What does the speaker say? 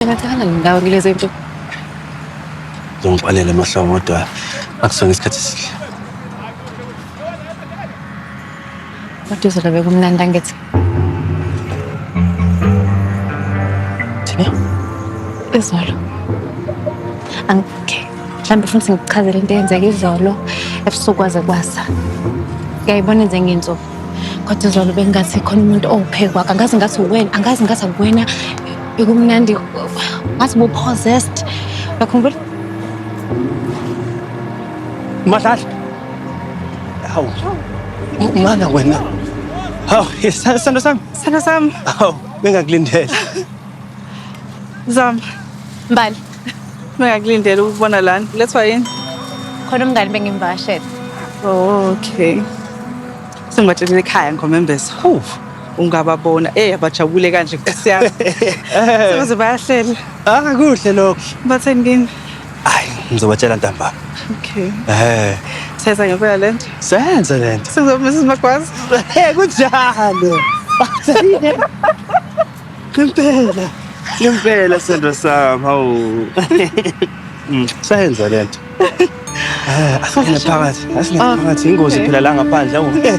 Ngathanda ngindawo ngilezi into. Ngizongixolela amahlobo kodwa akusona isikhathi esihle. Kodwa uzola bekumnandi angithi. Thina Izolo. Angike. Mhlawumbe ufuna ukuthi ngikuchazele into eyenzeka izolo ebusuku kwaze kwasa. Ngiyayibona enze ngenzo. kodwa izolo bengingathi khona umuntu owuphekwaka angazi ngathi uwena angazi ngathi akuwena bekumnandi ngathi bu-possessed uyakhumbula Madlala. Hawu. Mana wena. Hawu, isithando sami. Isithando sami. Hawu, bengakulindele. Zama. Mbali. Bengakulindela ukubona lana. Lethwa yini? Khona umngani bengimvakashele. Oh, okay. Sengibatshelile ekhaya ngomembezo. Huh. Ungababona. Eh, abajabule kanje nkosi yami. Sekuze bayahlela. Ah, kuhle lokho. Batheni kini? Hayi, ngizobatshela ntambama. Okay. Eh. Seza ngempela lento. Senze lento. Sekuzoba Mrs. Magwaza. Eh, kunjalo. Bathini? Impela. Impela sendo sami. Hawu. Mm, sayenza lento. Ah, asingene phakathi. Asingene ah, phakathi. Ingozi phela la ngaphandle. Hawu. Eh.